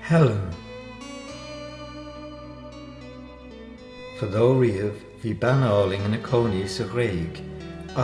Helen. Fadó riamh bhí bean álainn ina cónaí sa Ghréig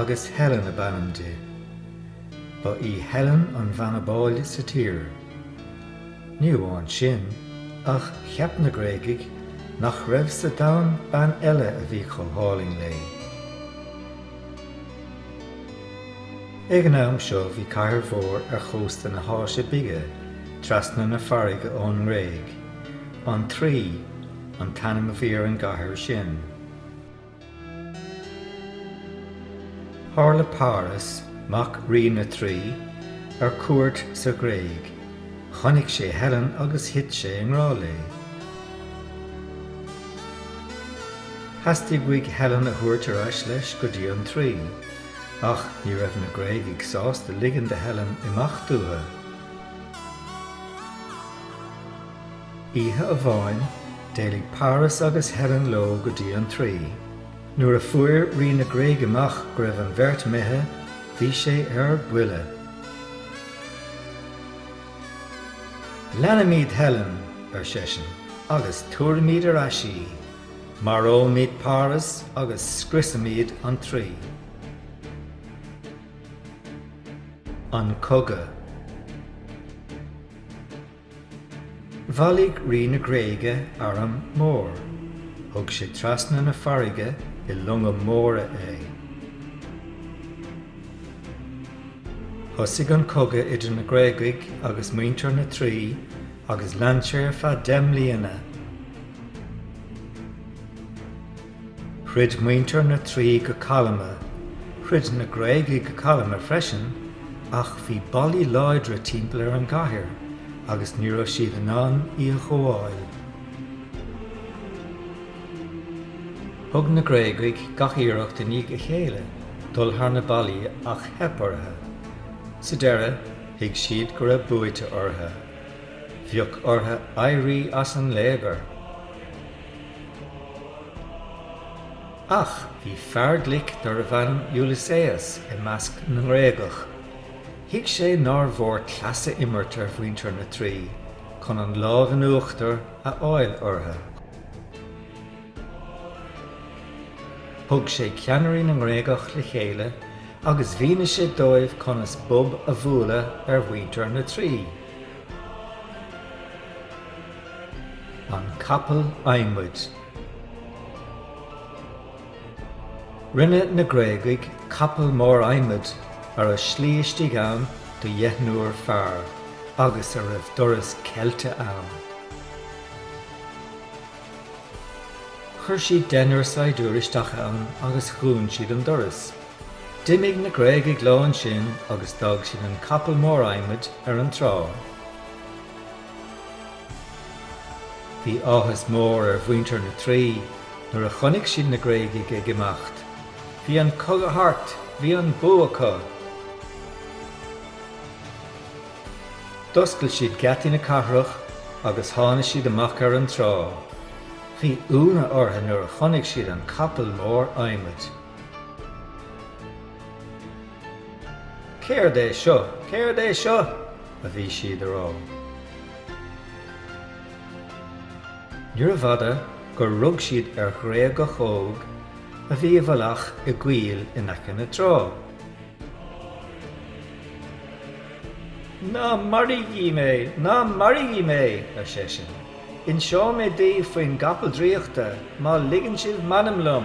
agus Helen ab ainm di. Ba í Helen an bhean ab áille sa tír. Ní amháin sin, ach cheap na Gréagaigh nach raibh sa domhan bean eile a bhí chomh hálainn léi. Ag an am seo bhí cathair mhór ar chósta na hÁise Bige, trasna na farraige ón nGréig. An Traí an t-ainm a bhí ar an gcathair sin. Tharla Páras, mac Rí na Traí, ar cuairt sa Ghréig. Chonaic sé Helen agus thit sé i ngrá léi. Theastaigh uaidh Helen a thabhairt ar ais leis go dtí an Traí. Ach ní raibh na Gréagaigh sásta ligean do Helen imeacht uathu. Oíche amháin, d'éalaigh Páras agus Helen leo go dtí an Traí. Nuair a fuair Rí na Gréige amach go raibh an bheirt imithe, bhí sé ar buile. Leanfaimid Helen, ar seisean, agus tabharfaimid ar ais í. Maróimid Páras agus scriosfaimid an Traí. An Cogadh. Bhailigh Rí na Gréige arm mór. Thug sé trasna na farraige i longa móra é. Thosaigh an cogadh idir na Gréagaigh agus muintir na Traí agus lean sé ar feadh deich mbliana. Throid muintir na Traí go calma, throid na Gréagaigh go calma freisin, ach bhí ballaí láidre timpeall ar an gcathair agus ní raibh siad in ann í a ghabháil. Thug na Gréagaigh gach iarracht i ndiaidh a chéile dul thar na ballaí ach theip orthu. Sa deireadh. Thuig siad go raibh buaite orthu. Bheadh orthu éirí as an léigear. Ach bhí fear glic darbh ainm Ulysses i measc na nGréagach. Thuig sé nár mhór cleas a imirt ar mhuintir na Traí chun an lámh in uachtar a fháil orthu. Thug sé ceannairí na nGréagach le chéile agus mhínigh sé dóibh conas bob a bhualadh ar mhuintir na Traí, an capall adhmaid. Rinne na Gréagaigh capall mór adhmaid a raibh slí istigh ann do dheichniúr fear agus a raibh doras ceilte ann. Chuir siad deichniúr saighdiúirí isteach ann agus dhún siad an doras. D'imigh na Gréagaigh leo ansin agus d'fhág siad an capall mór adhmaid ar an trá. Bhí áthas mór ar mhuintir na Traí nuair a chonaic siad na Gréagaigh ag imeacht. Bhí an cogadh thart! Bhí an bua acu! D'oscail siad geataí na cathrach agus tháinig siad amach ar an trá. Bhí ionadh orthu nuair a chonaic siad an capall mór adhmaid. Céard é seo? Céard é seo? a bhí siad ag rá. Níorbh fhada gur rug siad ar Ghréagach óg a bhí i bhfolach i gcoill in aice na trá. Ná maraígí mé! Ná maraígí mé! ar seisean. Inseoidh mé daoibh faoin gcapall draíochta má ligeann sibh m'anam liom!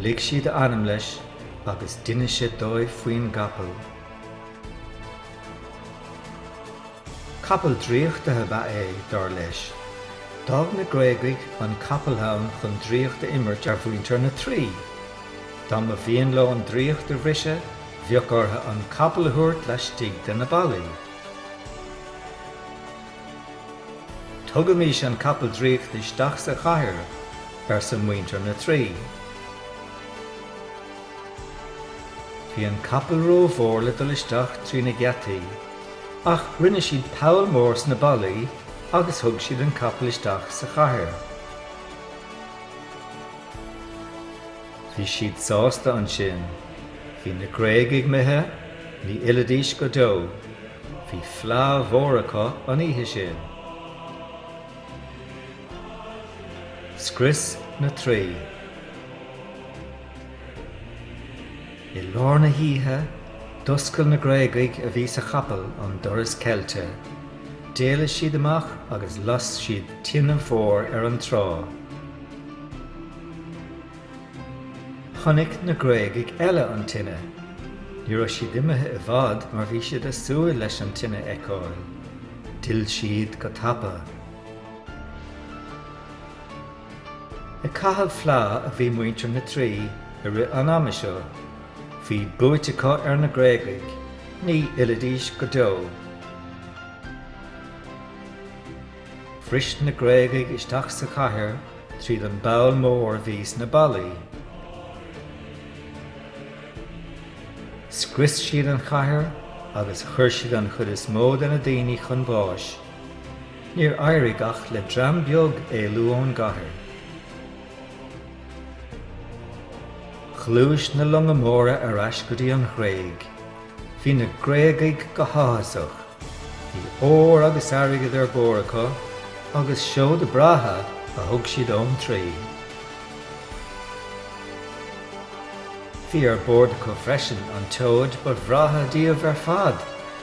Lig siad a anam leis agus d'inis sé dóibh faoin gcapall. Capall draíochta a ba ea é, dar leis. D'fhág na Gréagaigh an capall ann chun draíocht a imirt ar mhuintir na Traí. Dá mba mhian leo an draíocht a bhriseadh, bheadh orthu an capall a thabhairt laistigh de na ballaí. Tugaimis an capall draíochta isteach sa chathair, arsa muintir na Traí. Bhí an capall rómhór le dul isteach trí na geataí. Ach rinne siad poll mór sna ballaí agus thug siad an capall isteach sa chathair. Bhí siad sásta ansin. Bhí na Gréagaigh imithe, ní fhillfidís go deo. Bhí fleá mhór acu an oíche sin. Scrios na Traí. I lár na hoíche, d'oscail na Gréagaigh a bhí sa chapall an doras ceilte. D'éalaigh siad amach agus las siad tine mhór ar an trá. Chonaic na Gréagaigh eile an tine. Ní raibh siad imithe i bhfad mar bhí siad ag súil leis an tine a fheiceáil. D'fhill siad go tapa. Ag caitheamh fleá a bhí muintir na Traí i rith an ama seo. Bhí buaite acu ar na Gréagaigh. Ní fhillfidís go deo. Bhris na Gréagaigh isteach sa chathair tríd an bpoll mór a bhí sna ballaí. Scrios siad an chathair agus chuir siad an chuid is mó de na daoine chun báis. Níor éirigh ach le dream beag éalú ón gcathair. Ghluais na longa móra ar ais go dtí an Ghréig. Bhí na Gréagaigh go háthasach. Bhí ór agus airgead ar bord acu agus seoda breátha a thug siad ón Traí. Bhí ar bord acu freisin an tseoid ba bhreátha díobh ar fad,